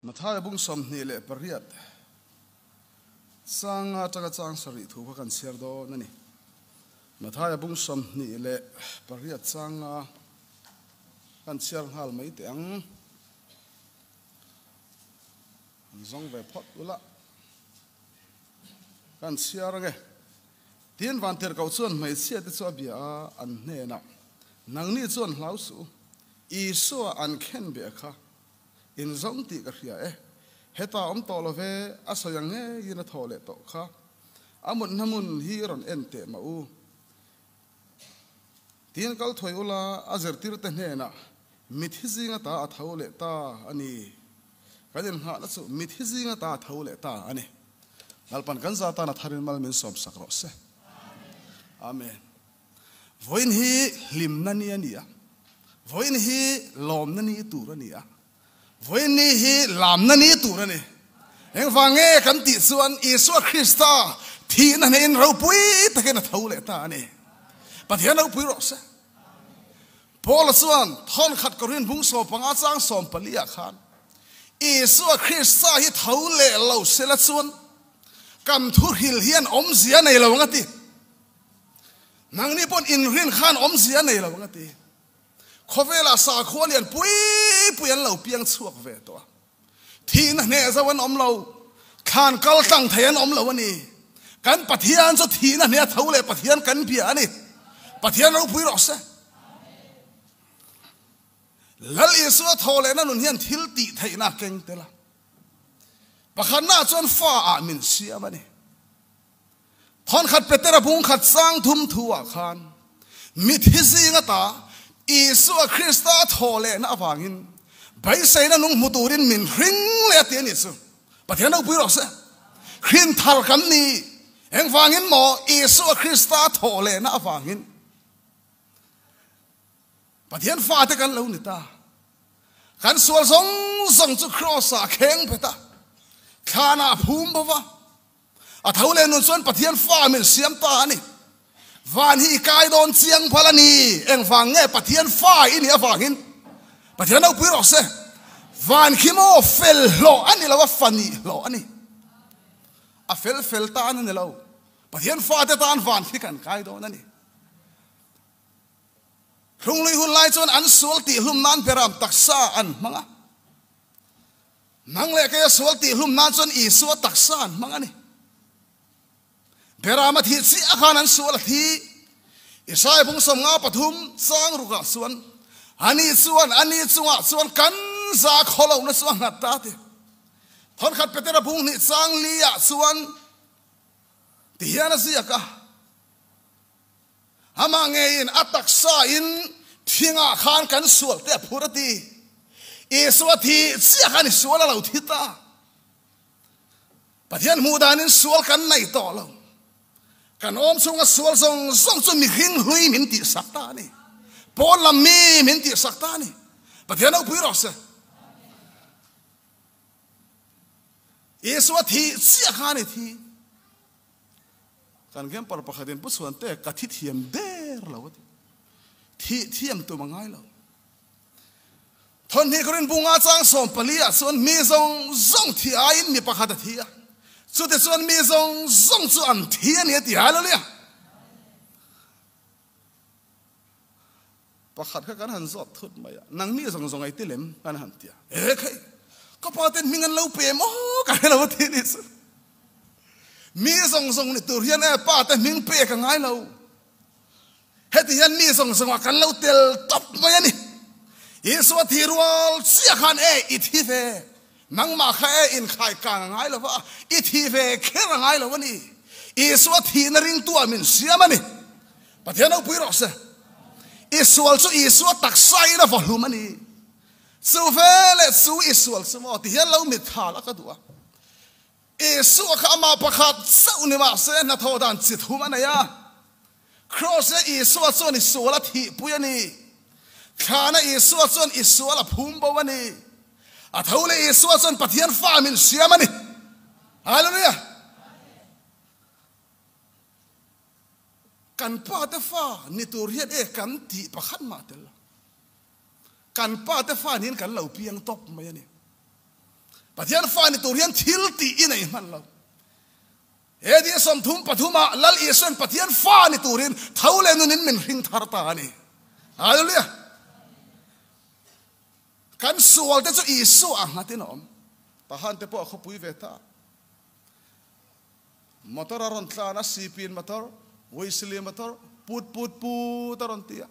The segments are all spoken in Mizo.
Mathaia bung sawmhnih leh pariat changa atanga chang sarih thu kha kan chhiar dawn a ni. Mathaia bung sawmhnih leh pariat changa kan chhiar nghal mai teh ang. Kan zawng ve phawt ula kan chhiar ang e. Tiin Vantirhkoh chuan hmeichhia te chu a bia a, an hnenah, Nangni chuan hlau suh u, Isua an khenbia kha, In zawng tih ka hria e. Heta awm tawh love a sawi ang ngeiin a thaw leh tawh kha. A mutna hmun hi i rawn en teh mah u. Tiin kal thuai ula a zirtirte hnenah mit hi zinga ta a tho leh ta a ni. Kan innghahna chu mit hi zinga ta a tho leh ta a ni. Lalpan kan za tana tharin mal min sawmsak rawh se. Amen. Vawiin hi hlimna ni a ni a, vawiin hi lawmna ni tur a ni a, vawiin ni hi lamna ni tur a ni. Engvânge kan tih chuan Isua Krista thihna hnehin ropui takin a tho leh ta a ni. Pathian ropui rawh se. Paula chuan thawnkhat Korin hmung sawm panga chang sawm paliah khan Isua Krista hi tho leh lo sela chuan kan thuhril hian awmzia nei lo ang a ti. Nangni pawn inrin khan awmzia nei lo anga ti. Khawvela sakhua lian pui pui an lo piang chhuak ve tawh a. Thihna hneh zo an awm lo, thlan kal tlang thei an awm lo a ni. Kan Pathian chu thihna hneh a tho leh Pathian kan bia a ni. Pathian ropui rawh se. Lal Isua thaw lehna nun hian thil tih theihna a keng tel a. Pakhatna chuan fa ah min siam a ni. Thawnkhat Petera bung khat sang thum thu ah khan mithi zinga ta Isua Krista a thawhlehna avangin beiseina nung hmu turin min hring leh a ti a ni chu. Pathian ropui rawh seh. Khrihn thar kan ni i engvangin maw Isua Krista a thawhlehna avangin Pathian fate kan lo ni ta? Kan sual zawng zawng chu Kraws ah a kheng phet a, thlan ah a phum bova. A tho leh nun chuan Pathian fa a mil siam ta a ni. Van hi i kai dawn chiang pal a ni. Engvang nge Pathian fa i nih avangin Pathian ropui rawh se. Van khi maw fel hlawh a ni lo a fa nih hlawh a ni. A fel fel tan a ni lo. Pathian fate tan van khi kan kai dawn a ni. Hrunglui hun lai chuan an sual tih hlum nan ber ram taksa an hmang a. Nang leh kei a sual tih hlum nan chuan Isua taksa an hmang a ni. Berama thih chiah khan an sual a thi. Isai phung sawm nga pathum chang rukah chuan ani chuan ani chungah chuan kan za khaw lo na chu a nghat ta ti. Thawnkhat Petera phung hnih chang li ah chuan ti hian a ziak a. Amah ngeiin a taksa in thinga khan kan sual te a phur a ti. Isua thi chiah khan i sual a lo thi ta. Pathian hmuh dan in sual kan nei tawh lo. Kan awm chung a sual zawng zawng chu mi hring hlui min tih sak ta ni. Pawl lam mi min tih sak ta ni. Pathian ho pui rawh se. Isua thi chiah khan i thi. Kan campar pakhatin Pu Suantea ka thi thiam der lo a ti. Thih thiam tum a ngai lo. Thawhni Khurin Pu Nga Chang Sawm pali ah chuan mi zawng zawng thi aiin mi pakhat a thi a, chutichuan mi zawng zawng chu an thi a ni a ti hial a nia. Pakhat kha kan han zawt thut mai a, Nang mi zawng zawngai te lem? Kan han ti a. He kha i, ka pa ten hming an lo pe maw? Ka hrelo a ti ni chu. Mi zawng zawng ni tur hian e pa te hming pek a ngai lo. Heti hian mi zawng zawng ah kan lo tel tawp mai a ni. Isua thi rual chiah khan e i thi ve. Nangmah kha e inkhai kang a ngai lo va, i thih ve kher a ngai lo a ni. Isua a thihna ringtu ah min hriam a ni. Pathian Ropui rawh se. I sual chu Isua taksa in a va hlum a ni. Chu ve leh chu i sual chu maw? Tihian lo mitthal a ka duh a. Isua kha amah pakhat chauh ni mah se hnathawh dan chithum a nei a. Kraws e Isua chuan i sual a thihpui a ni. Thlan e Isua chuan i sual a phum bo a ni. A tho leh Isua chuan Pathian fa min hriam a ni. Hallelujah! Kan pa te fa ni tur hian e kan tih pakhat mah tel lo. Kan Pa te fan hian kan lo piang tawp mai a ni. Pathian fan ni tur hian thil tih i nei hman lo. He dih sawmthum pathum ah Lal Isu hian Pathian fan ni tur in tho leh nun in min hring thar ta a ni. Hallelujah! Kan sual te chu Isu ah nghat in a awm. Pahan te pawh a khawpui ve ta a. Motor a rawn tlan a, Sipiin motor, Huisili motor, put put put a rawn ti a.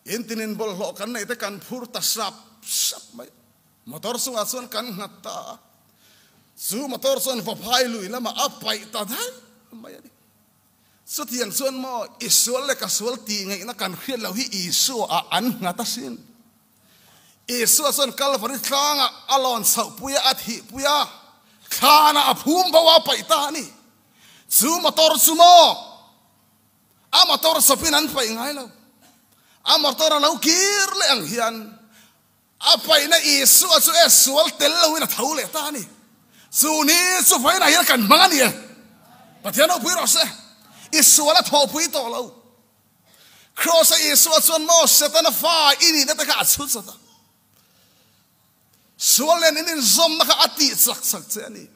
In tinin bawlhhlawh kan neih te kan phur ta hrap hrap mai. Motor chungah chuan kan nghat ta a. Chu motor chuan va phai lui lamah a paih ta daih mai a ni. Chutiang chuan maw, i sual leh ka sual tih ngeihna kan hriat loh hi Isua-ah an nghat asin. Isua chuan Kalvari tlangah a lawn chhohpui a, a thihpui a, thlanah a phum bo a paih ta a ni. Chu motor chu maw a motor sawpin an paih ngai lo. A motor a lo kir leh ang hian a paihna Isua chu e sual tel loin a tho leh ta a ni. Chu ni chu vainah hian kan hmang a ni e. Pathian ropui rawh se, i sual a thawhpui tawh lo. Kraws a Isua chuan maw Setana fa i nih na te kha a chhut sat a. Sual nen in inzawmna kha a tih chak chak che a ni.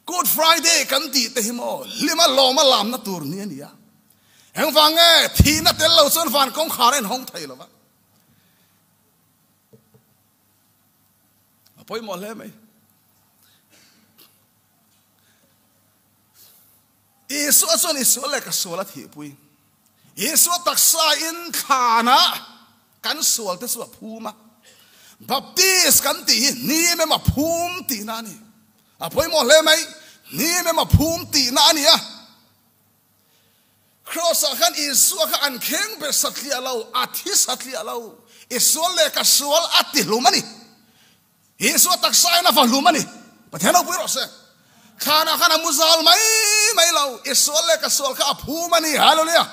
Good Friday kan tih te hi maw hlima lawma lamna tur ni a ni a. Engvang e thihna tel lo chuan van kawngkhar a inhawng thei lo va. A pawimawh hle mai. Isua chuan i sual leh ka sual a thihpui. Isua taksa in thlan a kan sual te chu a phum a. Baptist kan tih hi hnim em a phum tihna a ni. A pawimawh hle mai hnim em a phum tihna a ni a. Kraws ah khan Isua kha an kheng be satliah lo, a thi satliah lo. I sual leh ka sual a ti hlum a ni. Jesuh a taksa in a va hlum a ni. Pathian Ropui rawh se. Thlan ah khan a mu zal mai mai lo. I sual leh ka sual kha a phum a ni. Hallelujah.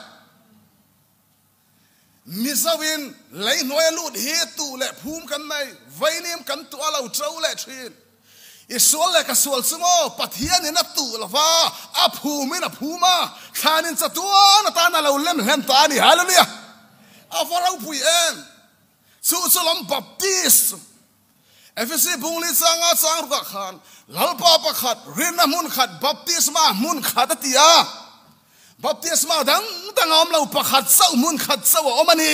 Mizo in lei hnuai a lut hi tuh leh phum kan nei. Vainim kan tuah a lo to leh thin. I sual leh ka sual chu maw Pathian in a tuh lo va, a phum in a phum a. Thlan in chatuan atan a lo lemhlem ta a ni. Hallelujah. A va ropui em. Chu chu lam Baptist Efesi bungli changa chang rukah khan lalpa pakhat rinna hmun khat Baptisma hmun khat a ti a. Baptisma dang dang a awm lo pakhat chauh hmun khat chauh a awm a ni.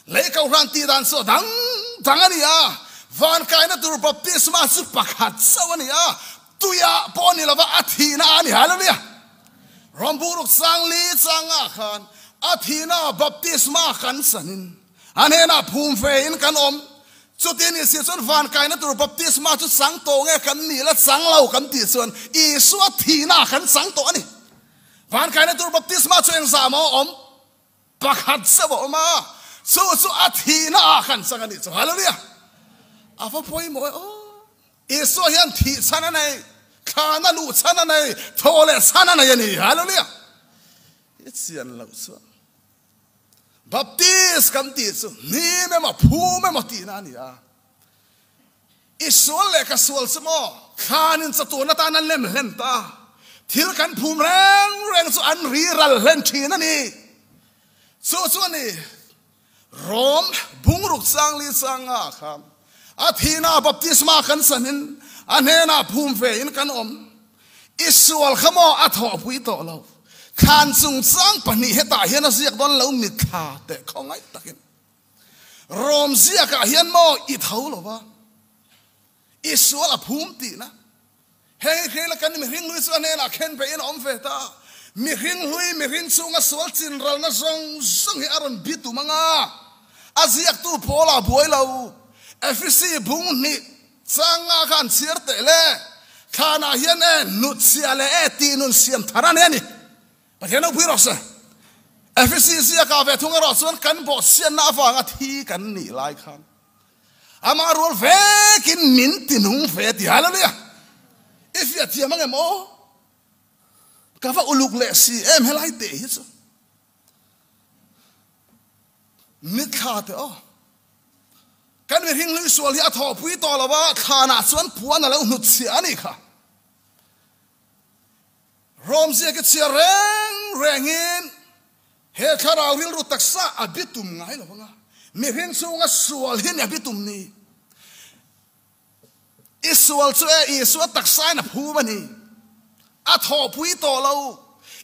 Lei kohhran tih dan chu a dang dang a ni a. Van kaina tur Baptisma chu pakhat chauh a ni a, tuiah pawh ni lova a thihna ah a ni. Hallelujah! Ramburuk Sangli changah khan a thihna baptisma kan sanin a hnenah phum ve in kan awm. Chutin i si chuan van kaina tur baptisma chu chang tawh nge kan nih la chang lo kan tih chuan Isua thihnaah kan chang tawh a ni. Van kaina tur baptisma chu engzah maw a awm? Pakhat zeuh a awm a, chu chu a thihnaah kan chang a nih chu. Hallelujah! A va pawimawh e aw. Isua hian thih chhan a nei, thlan a luh chhan a nei, thaw leh chhan a nei a ni. Hallelujah! Hi chian loh chuan Baptist kan tih chu hnim emaw phum emaw tihna a ni a. I sual leh ka sual chu maw thlan in chatuan atan an lem hlen ta, thil kan phum reng reng chu an ri ral hlen thin a ni. Chu chu a ni. Rome bungruk changli changa kha a thihna baptisma kan sanin a hnenah phum ve in kan awm. I sual kha maw a thawhpui tawh lo. Thlan chung chang pahnih hetah hian a ziak dawn lo mitthla teh khawngaih takin Rome ziakah hian maw i tho lo va? Isual a phum tihna. Heng khi la kan mihring hlui chu a hnenah khen peihin a awm ve ta a. Mihring hlui, mihring chhunga sual chinralna zawng zawng hi a rawn bi tum anga a ziaktu Paula buai lo. Efesi bung hnih chang nga kha an chhiar teh le. Thlanah hian e, hnuchhia leh e tih nun siam thar a ni a ni. Pathian naupui erawh se, Efesi ziaka ve thung erawh chuan kan bawhchhiatna avanga thi kan nih lai khan Amah rual vek in min ti nung ve a ti. Hallelujah! I fiah thiam ang em aw? Ka va uluk leh si em helai te hi chu? Ni thla te aw. Kan mi hring hlui sual hi a thaw pui tawh lova thla na chuan puan a lo hnut chhia a ni kha. Rom ziak i chhia reng reng in He thlarau rilru taksa a bitum ngai lo anga mihring chunga sual hi nia bitum ni. I sual chu e Isua taksain a phum a ni. A thawhpui tawh lo.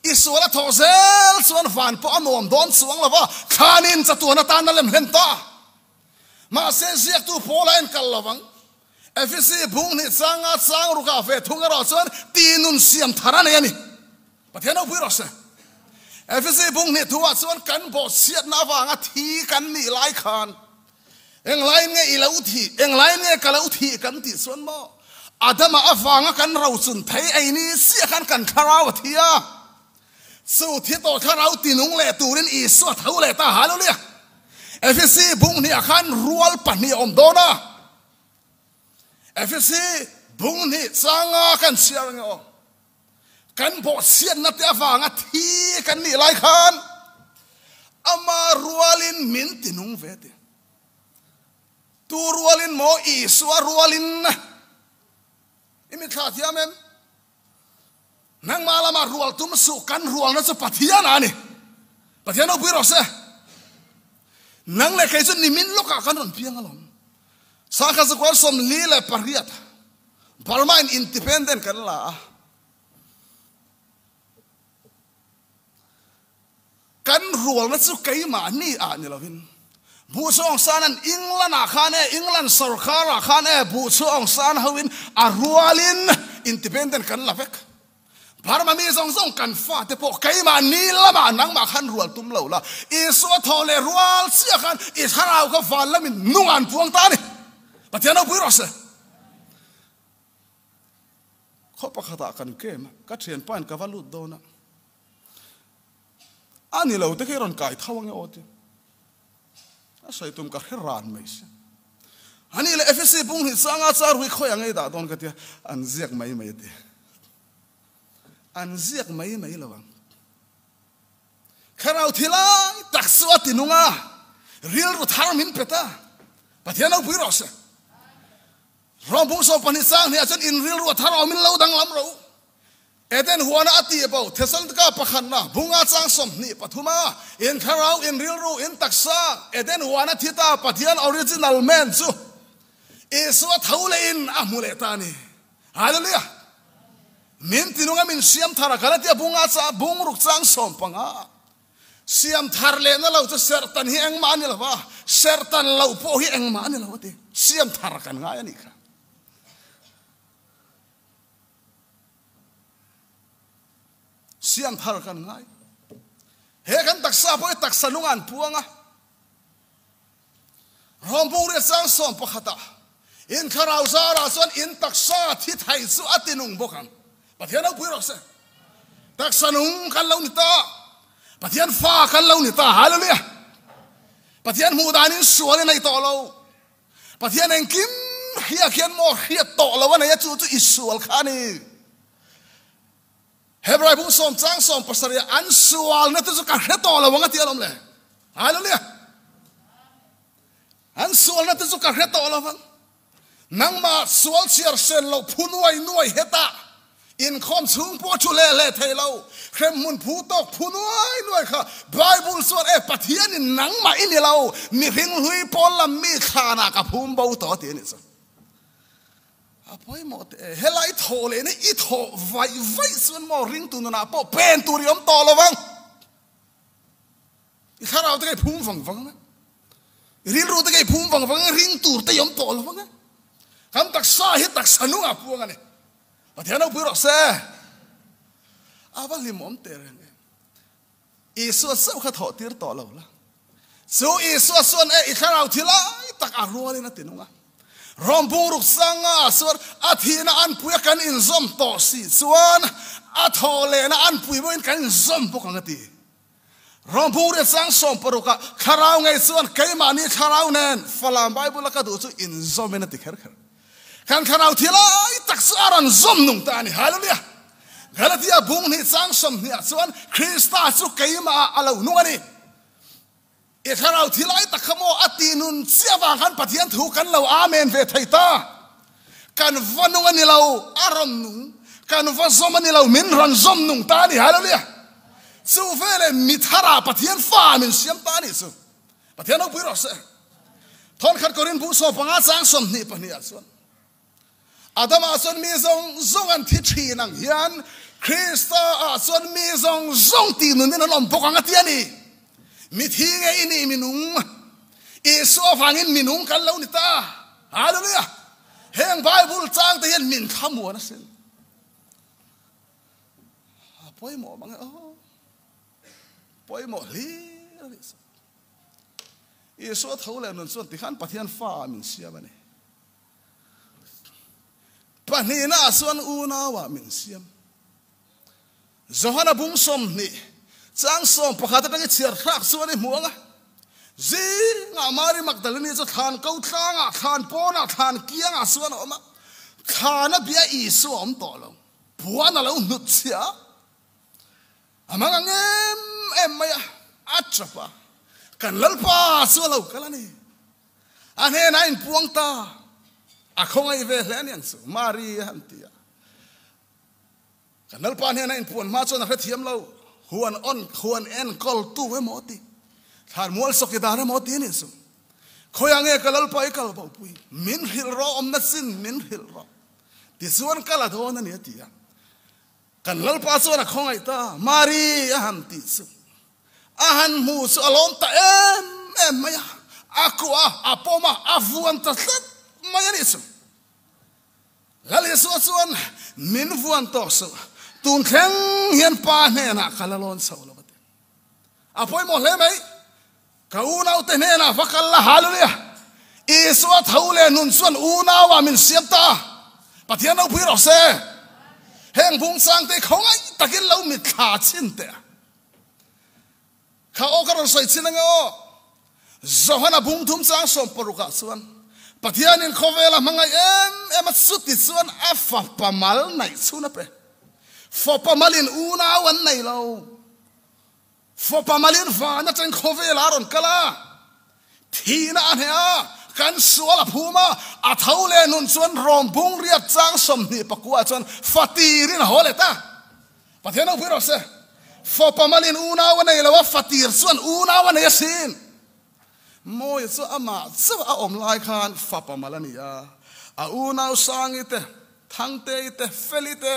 I sual a thawh zel chuan van pawh a nuam dawn chuang lo va, thlanin chatuan atan a lem hlen ta. Mahse ziaktu Paula en kal lo vang. FEC Phung Hnih Changa Changrukah ve thung erawh chuan tihnun siam thar a nei a ni. Pathian ropui rawh se. FEC Phung Hnih thu ah chuan kan bawhchhiatna avanga thi kan nih lai khan eng laiin nge i lo thi, eng laiin nge ka lo thi kan tih chuan maw Adama avanga kan rochun thei ei ni chiah khan kan thlarau a thi a. Chu thi tawh thlarau tinung leh turin Isua a tho leh ta a halu nia. Efesi bunghniah khan rual pahnih a awm dawn a. Efesi bunghnih changa kan chhiar ang emaw? Kan bawhchhiatna te avanga thi kan nih lai khan ama rualin min tinung ve tih. Tu rualin maw Isua rualin? I mitthla thiam em? Nangmah lama rual tum suh kan rualna chu Pathian a ni. Pathian ropui rawh se. Nang leh kei chu nimin lawkah kan rawn piang alawm. Sangha Zakwar Sawmli leh pariat Burma in independent kan la a. Kan rualna chu keimah ni ah ni loin Buhchhuah Aung San an England ah khan e, England sorkar ah khan e Buhchhuah Aung San ho in a rual in independent kan la vek. Burma mi zawng zawng kan fa te pawh keimah ni lam ah nangmah khan rual tum lo la, Isua thaw leh rual chiah khan i thlarau kha val lam in nung ah an puang ta a ni. Pathian ropui rawh a si. Khaw pakhatah kan kem a, ka thian pain ka va lut dawn a, a ni lo te khi i rawn kai tho ange aw tia, a sawi tum ka hre ran mai se. A nih leh FEC pung hnih chang a, chuan ruih khawiah ngei dah dawn ka tia, an ziak mai mai a ti. An ziak mai mai lo ang. Thlarau thi lai tak chu a ti nung a, rilru thar min pet a, Pathian ropui rawh se. Ruah hmuh saw pahnih sang hnih ah chuan in rilru a thar awm in lo danglam reuh. Eden huana a ti pawh Thessalontika pakhatna bunga chang sawmhnih pathum a in thlarau in rilru in taksa Eden huana thi ta Pathian original man chu Isua tho leh in a hmu leh ta ni. Hallelujah! Min tinung a min hriam thar a kal a tia bunga chang bungruk chang sawm panga. Siam thar lehna lo chu serhtan hi engmah a ni lo a, serhtan loh pawh hi engmah a ni lo a ti. Siam thar kan ngai a nih kha. Siam thar kan ngai. He kan taksa pawh hi taksa nunga an puang a. Rome Bungrel Sang sawm pakhata in thlarau zarah chuan in taksa thi thai chu a ti nung bawk ang. Pathian ropui rawh se. Taksa nung kan lo ni ta. Pathian fa kan lo ni ta. Hallelujah. Pathian hmuh dan in sual i nei tawh lo. Pathian engkim hriat hian maw hriat tawh lo a nei a chu chu i sual kha ni. Hebrai hmuh sawm chang sawm pasarih an sualna te chu ka hre tawh lo ang a tih a lawm le. Hallelujah! An sualna te chu ka hre tawh lo ang. Nangmah sual chhiar hren lo, phu nuai nuai heta, inkhawm chhung pawh thu hle hle thei lo, hremhmun phu tawk phu nuai nuai kha Bible chuan e Pathian in nangmah i ni lo, mihring hlui pawl lam mi thlan ah ka phum bo tawh a ti a nih chuan. A pawimawh te e, helai thaw leh na i thaw vaih vaih chuan maw ringtu nunah pawh pen tur i awm tawh lo vang. I thlarau te ka i phum vang vang ang a, i rilru te ka i phum vang vang ang a, ring tur te i awm tawh lo vang a. Kan taksa hi taksa hnungah puang a ni. Pathian ropui rawh se, a va hlim awm teh reng em. Isua chauh kha thawh tir tawh lo la. Chu Isua chuan e i thlarau thi lai tak a rualin a ti nung a. Rom bungruk changa ah chuan a thihna an puia kan inzawm tawh si chuan a thaw lehna an pui bawkin kan inzawm bawk ang a ti. Rom bungria chang sawm paruk ah thlarau ngei chuan keimahni thlarau nen Fala Bible a ka duh chu inzawmin a ti kher kher. Kan thlarau thilai tak chu a rawn zawm nung ta a ni. Hallelujah! Galatia bung hnih chang sawmhnih ah chuan Krista chu keimah ah a lo nung a ni. I thlarau thilai tak kha maw a tih nun chiah vang khan Pathian thu kan lo amen ve thei ta. Kan va nung a ni lo, a rawn nung. Kan va zawm a ni lo, min rawn zawm nung ta a ni. Hallelujah! Chu veleh mi thara Pathian fa ah min siam ta a nih chu. Pathian naupui rawh seh. Thawnkhat kawr in buh sawm panga chang sawmhnih pahnih ah chuan Adam ah chuan mi zawng zawng an thi thin ang hian Krista ah chuan mi zawng zawng ti nun in an awm bawk ang a ti a ni. Mithi nge i nih minung? Isua vangin minung kan lo ni ta. Hallelujah! Heng Bible chang te hian min kha muan a sin. A pawimawh mang e aw. Pawimawh hlir hlir sawk. Isua tho leh nun chuan tikhan Pathian Fa ah min siam a ni. Pahnihna ah chuan unau ah min siam. Johana bum sawmhnih chang sawm pakhat atang i chhiar thlak chuan i hmuang a. Zingah Mari Magdalene chu thlan ko tlang ah, thlan pawn ah, thlan kiang ah chuan a awm a. Thlan a bia Isua awm tawh lo. Puan a lo hnutchhiah a. A hmanga ngem em mai a, a chap a, kan Lalpa chu a lo kal a ni. A hnenah a inpuang ta, a khawngaih ve hle aniang chu, Mari a han ti a. Kan Lalpa hnena inpuan hma chuan a hrethiam lo, huan awn, huan en kawltu emaw ti, thlan mual sawki dan emaw ti nih chu, khawi ang e ka Lalpa i kal bopui, min hrilh rawh, awmna chin min hrilh rawh, tichuan kal a dawn a ni a ti a. Kan Lalpa chuan a khawngaih ta, Mari a han tih chu a han hmuh chu a lawm ta em em mai a, a kuah a, a pawm a, a vuan ta tlat mai a nih chu. Lal Isua chuan, Min vuan tawk suh, tun thleng hian Pa hnenah ka la lawn chho lo a ti. A pawimawh hle mai. Ka unaute hnenah va kal la hal u nia. Isua tho leh nun chuan unaua min siam ta a, Pathian ropui rawh se. Heng bungchangte kho ngai takin lo mit thla chin teh a. Kha aw ka rawn sawi chin ange aw. Johana bungthum chang sawm parukah chuan Pathianin khawvela hmangaih em em a chuti chuan a fapa mal naih chhun a pe. Fapa malin unau an nei lo. Fapa Malin vana chen khawvel a rawn kal a, thihna a hneh a, kan sual a phum a, a tho leh nun chuan Rawmbung riat chang sawmhnih pakua chuan fa tirin a haw let a. Pathian Naupui rawh se, Fapa Malin unau a nei lo a, fa tir chuan unau a nei a sin. Mawia chu amah chauh a awm lai khan Fapa Mal a ni a, a unau Sangi te, Thangtei te, Feli te,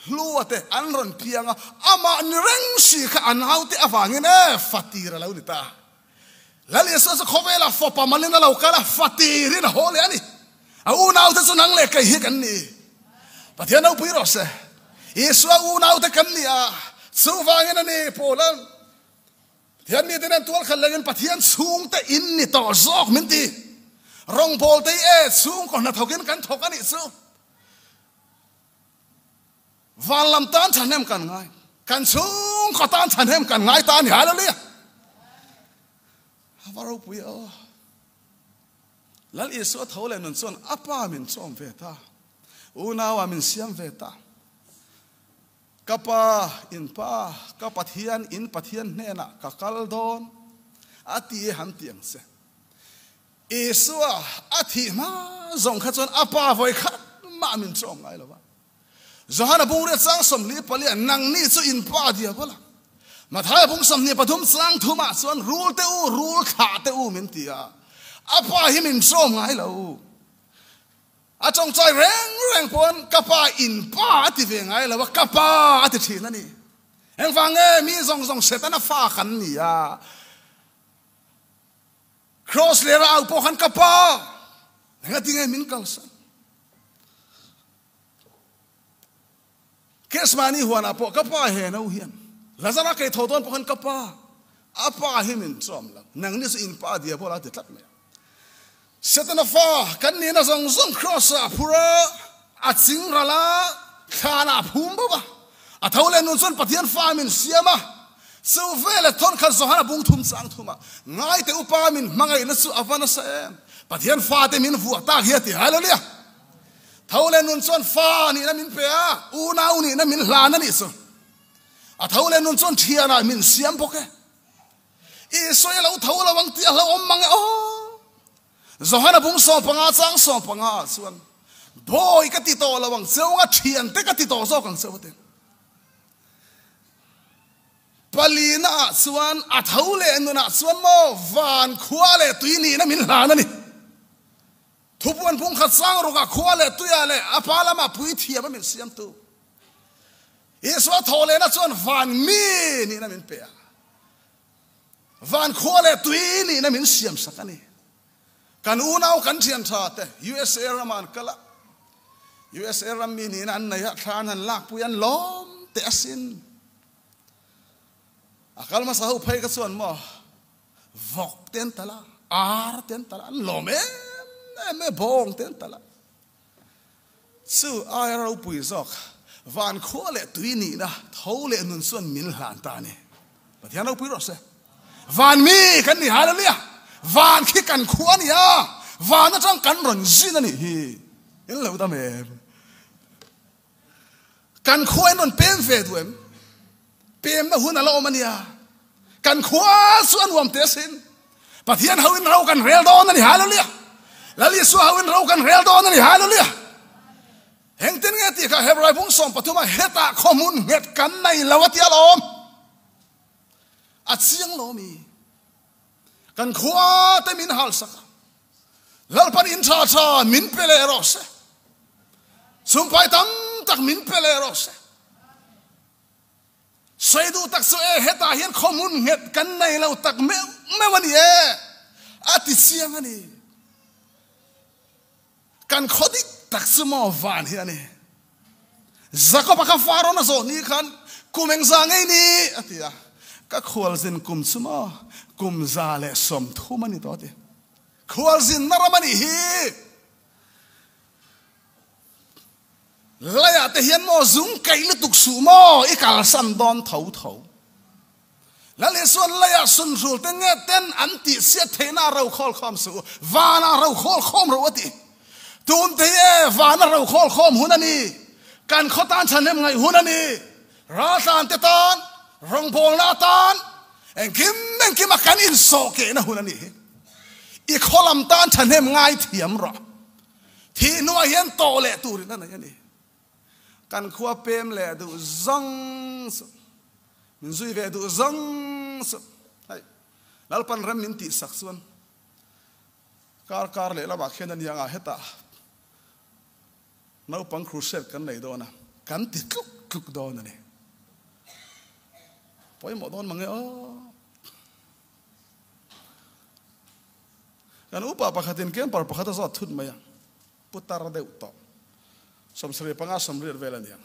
Hlua te an rawn piang a, amah ni reng si kha a naute avangin e fatir a lo ni ta a. Laliasua chu khawvelah fawpa malin a lo kal a, fatir in a haw leh a ni. A unaute chu nang leh kei hi kan ni. Pathian Naupui rawh se. Isua unaute kan ni a, chuvangin a ni pawl a. Pathian mite nen tual khat lengin Pathian chhungte in ni tawh zawk min ti. Rawngbawlte hi e chhungkaw hnathawkin kan thawk a nih chu. Van lam tan thahnem kan ngai, kan chhung khaw tan thahnem kan ngai ta a ni. Hallelujah! A va ropui a aw. Lal Isua tho leh nun chuan a pa min chawm ve ta, unau ah min siam ve ta. Ka pa, in pa, ka Pathian, in Pathian hnenah ka kal dawn a ti e han ti ang che. Isua a thih hma zawng kha chuan a pa vawi khat mah min chawm ngai lo va. Johana bungria chang sawmli palian nangni chu in pa diau bawla Mathaia bung sawmhnih pathum chang thu mah chuan rul te u, rul thlah te u min ti a, a pa hi min chawm ngai lo. A tawngtai reng reng pawn ka pa in pa a ti ve ngai lo va, ka pa a ti thin a ni. Engvang nge mi zawng zawng hre tan a fa kan ni a. Cross leh rau pawh khan ka pa enga tinge min kalsan case mani huana pawh ka pa he no hian lazara kei tho don pawh khan ka pa a pa hi min chom lo nang ni chu in pa dia bola ti tlat mai setana fa kan nina zong zong cross a phura A chingral a thlan ah a phum bawk a, a tho leh nun chuan Pathian fa min siam a, chu veleh thawnkhat zawng han a bung thum chang thum a, ngaite upa min hmangaihna chu a va nasa em? Pathian fate min vuah tak hi a ti hai lo nia, tho leh nun chuan fa nihna min pe a, unau nihna min hlan a nih chu, a tho leh nun chuan thian ah min siam bawk e, Isua i lo tho lo ang tih a hlauhawm mang e aw. Johan a bum sawm panga chang sawm panga ah chuan Bawi ka ti tawh lo ang cheu a, thian te ka ti tawh zawk ang cheu te. Pali na ah chuan a tho leh nun ah chuan maw van khua leh tui nihna min hlan a ni. Thupuan pumkhat chang ruk ah khua leh tui ah leh a pa lam ah puithiam a min siam tu Isua tho leh na chuan van mi nihna min pe a. Van khua leh tui nihna min siam sak a ni. Kan unau kan thiantha te usa ram ah an kal a, usa ram mi nihna an nei ah thla an han lakpui an lawm teh asin. A kal hmasa ho phei kha chuan maw vawk te an tal a, ar te an tal a, an lawm em em mai bawng te an tal a. Chu aia ropui zawk, van khua leh tui nihna, tho leh nun chuan min hlan ta ni. Pathian ropui rawh se. Van mi kan ni hal ania, van khi kan khua ania, van atang kan rawn zin anih hi, in lo dam em? Kan khuain an rawn pem ve duh em? Pemna hun a la awm a nia. Kan khua chu a nuam teh sin. Pathian ho in ro kan rel dawn a ni. Hallelujah! Lalisua ho in ro kan rel dawn a ni. Hallelujah! Engtin nge tih kha Hebrai bung sawm pathum a heta khawmun nghet kan nei lo a tia la awm. A chiang lo mi. Kan khua te min hal sak a. Lalpan in tha tha min pe leh rawh se. Sumpai tam tak min pe leh rawh se. Soi du tak chu e heta hian khomun nget kan nei lo tak meuh meuh a ni e. A ti chiang a ni. Kan khaw dik tak chu maw van hi a ni. Jacob a kha far rawn a zawh ni khan, Kum eng za ngei ni? a ti a. Ka khualzin kum chu maw kum za leh sawmthum a ni tawh a ti. Khualzinna ram a nih hi. Laiah te hian maw zung kaih lutuk suh maw i kalsan dawn tho tho. Lal Isual laiah sunhrulte nge ten an tih siat theihna ro khawl khawm suh u, vana ro khawl khawm ro a ti. Tumte hi vana ro khawl khawm hun a ni, kan khaw tan thahnem ngaih hun a ni. Raltlante tan, rawngbawlna tan, engkim engkim a kan insawh kehna hun a nih hi. I khaw lam tan thahnem ngaithiam rawh. Thihhnuah hian tawh leh turin a nei a ni. Kan khua pem leh duh zang chu min zui ve duh zang chu hei Lalpan rem min tih sak chuan kar kar leh lamah khian aniang ah heta naupang crusade kan nei dawn a kan ti tluk tluk dawn a ni. Pawimawh dawn mang e aw. Kan upa pakhatin camper pakhata zawt thut mai a. Putar deuh tawh. Sawmsarih panga sawmriat vel a ni ang.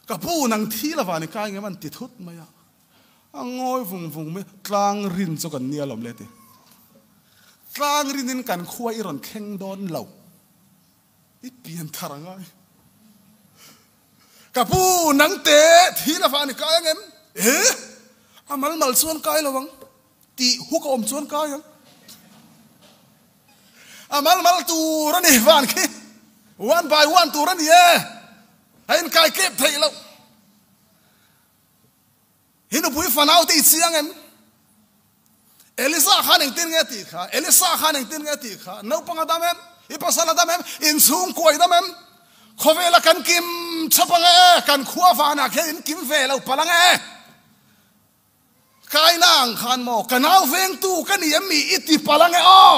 Ka pu, nang thi lova ni ka engema'n ti thut mai a. A ngawi vung vung mai. Tlangrin chu kan nia lawm le ti. Tlangrinin kan khua i rawn thleng dawn lo. I pian thar a ngai. Ka pu, nang te thi lova ni ka engem? Ee, a malmal chuan kai lo ang. Tih huk a awm chuan kai ang. A malmal tur a nih van khi one by one tur a ni e. A inkai kep theih loh. Hi nupui fanau te i chiang em? Elisa khan engtin nge tih kha? Elisa khan engtin nge tih kha? Naupang a dam em? I pasal a dam em? Inchhung kuai dam em? Khawvela kan kim chhap ang e, kan khua vanah khian in kim ve lo palang e. Kaina ang khan maw ka nau vengtu ka ni em mi i ti palh ange aw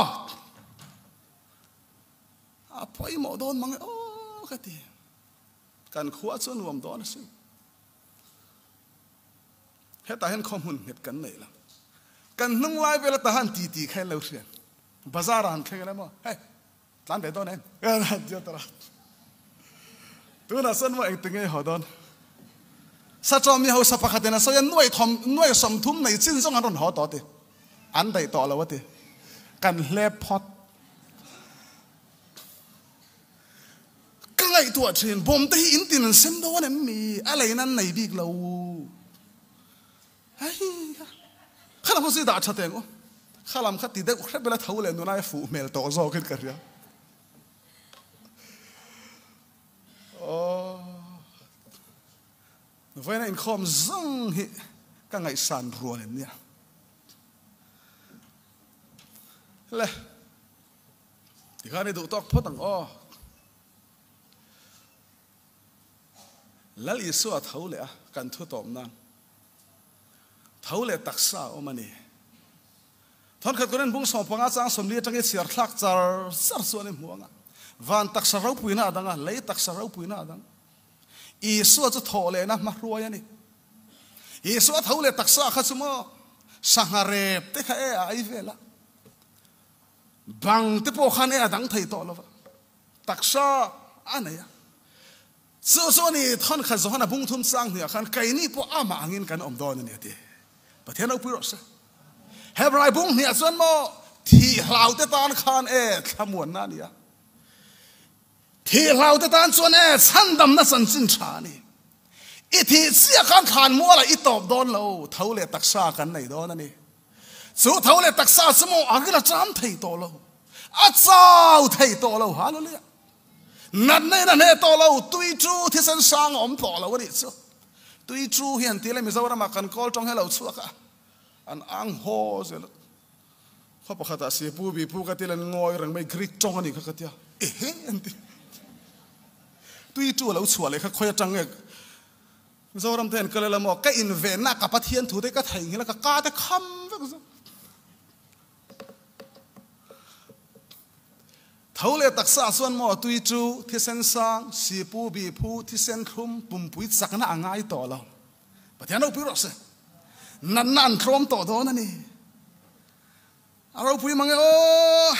a pawimawh dawn mange aw ka ti. Kan khua chu nuam dawn a si. Heta hian khaw hmun nghet kan neih lo. Kan hnung lai vel a ta han ti ti kha in lo hriat. Bazar ah han thleng em aw. Hei Tlan ve dawn em? Diatara. Tunah sawn maw eng ti ngei haw dawn? Sachaw mi hausa pakhatin a sawi a, nuai thawm, nuai sawm thum nei chin zawng an rawn haw tawh a ti. An daih tawh lo a ti. Kan hle phawt. Ka ngaihtuah thin, bawmte hi in tin an sem dawn em mi? A leiin an nei bik lo. Aii a, kha lam kha zui dah tha teh ang u, kha lam kha ti deuh hrep ila tho leh nun aia fuh hmel tawh zawkin ka hria. Aww, vawiina inkhawm zung hi ka ngaihsan rual em nia? Le, tikhan i duh tawk phawt ang aw. Lal Isua tho leh a kan thu tawp nan tho leh taksa a awm a ni. Thawn khat Koren bungsawng panga chang sawmli atang hi chhiar thlak char char chuan i hmu ang a, van taksa ropuina a dang a, lei taksa ropuina a dang. Isua chu thawh lehna hmahruai a ni. Isua tho leh taksa kha chu maw sangha rep te kha e a ai vel a, bang te pawh khan e a dang thei tawh lo va. Taksa a nei a. Chu chu a ni, thawnkhat Johan a bungthum chang hnuaiah khan, Keini pawh amah angin kan awm dawn a ni a ti. Pathian ropui rawh se. Hebrai bung hniah chuan maw thih hlaute tan khan e thlamuanna a ni a. Thih hlaute tan chuan e chhandamna chanchin tha a ni. I thih chiah khan thlanmualah i tawp dawn lo, tho leh taksa kan nei dawn a ni. Chu tho leh taksa chu maw a ril a cham thei tawh lo, a chau thei tawh lo ha lule a, natna in a hne tawh lo, tui chu thisen sang a awm tawh lo a nih chu, tui chu hian ti leh Mizoram ah kan kawl tawng helo chhuak a, an ang haw zel a, khaw pakhat ah Sipu Bipu ka ti len ngawi reng mai Greek tawng a nih kha ka ti a, ehe an ti, tui chu a lo chhuah leh kha khawi atang nge Mizoram te hian ka la la maw, ka invenna ah ka Pathian thu te ka theihnghilh a, ka ka te kham vek zuk. Tho leh taksa ah chuan maw Tuitu, Thisen Sang, Sipu, Biphu, Thisen Thlum, Pumpui chakna a ngai tawh lo. Pathian ropui rawh se, natna an tlawm tawh dawn a ni. A ropui mang e aw.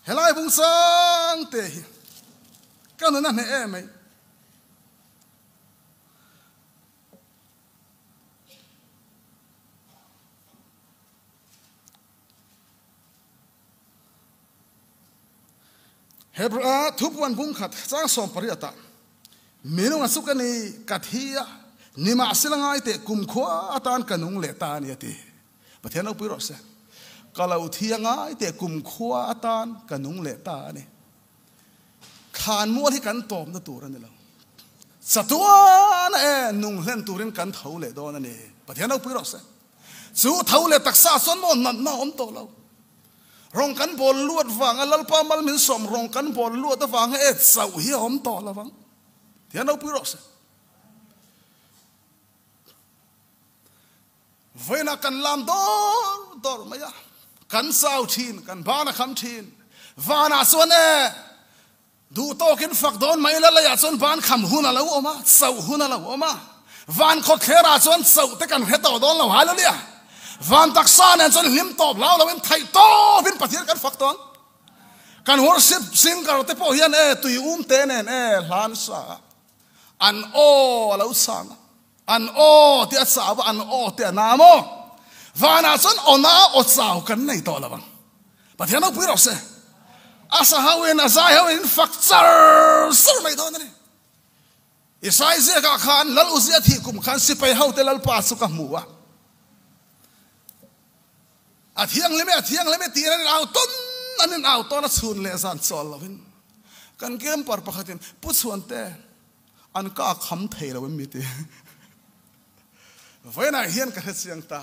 Helai vung sang te hi ka nun a hneh em mai. Hebra thupuan bung khat chang sawm pariat a minung a chu ka ni ka thi a nimah silangai te kum khua tan ka nung leh ta a ni a ti. Pathian lo pui rawh se. Ka lo thi a ngai teh kumkhua atan ka nung leh ta a ni. Thlan mual hi kan tawp na tur a ni lo. Chatuana e, nung hlen turin kan tho leh dawn a ni. Pathian lo pui rawh se. Chu tho leh taksa ah chuan maw natna a awm tawh lo. Rawn kan bawl luat vanga Lalpa Malminsawm rawn kan bawl luat avanga e chauh hi a awm tawh lo vang. Thian lo pui rawh se. Vawiinah kan lam dawr dawr mai a, kan zau thin, kan ban a kham thin. Vanah chuan e, duh tawkin fak dawn mai ila laiah chuan ban kham hun a lo awm a, chauh hun a lo awm a. Van khawthlerah chuan chauh te kan hre tawh dawn lo hal ania. Van taksa nen chuan hlim tawp hlau loin theih tawpin Pathian kan fak tawn. Kan worship singer te pawh hian e tui um te nen e hlan sa a. An aw a lo sang a. An aw tih a chau a, an aw tih a na maw? Vanah chuan aw na aw chau kan nei tawh lo ang. Pathian Naupui erawh se, a sa ho in, a zai ho in in fak char char mai dawn a ni. Isai ziakah khan Lal Uzia thih kum khan sipai hote Lalpa chu ka hmu a. A thianghlim e, a thianghlim e tiin an inau tawn, an inau tawn a chhun leh zan chuah lovin. Kan camper pakhatin, Pu Chhuante, an ka a kham thei lo em mi ti. Vawiinah hian ka hre chiang ta.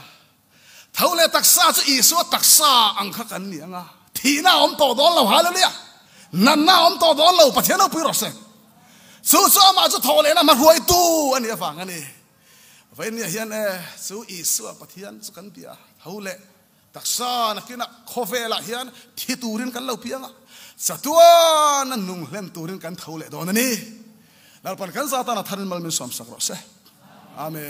Tho leh taksa chu Isua taksa ang kha kan ni anga, thihna a awm tawh dawn lo, Hallelujah! Natna a awm tawh dawn lo, Pathian Naupui rawh se. Chu chu amah chu tho lehna hmahruaitu a nih avang a ni. Vei nia hian e, chu Isua Pathian chu kan bia tho le. Taksa nakina khawvelah hian thi turin kan lo piang a, chatuana nung hlem turin kan tho leh dawn a ni. Lalpan kan Zatana tharin mal min suamsak rawh se. Amen.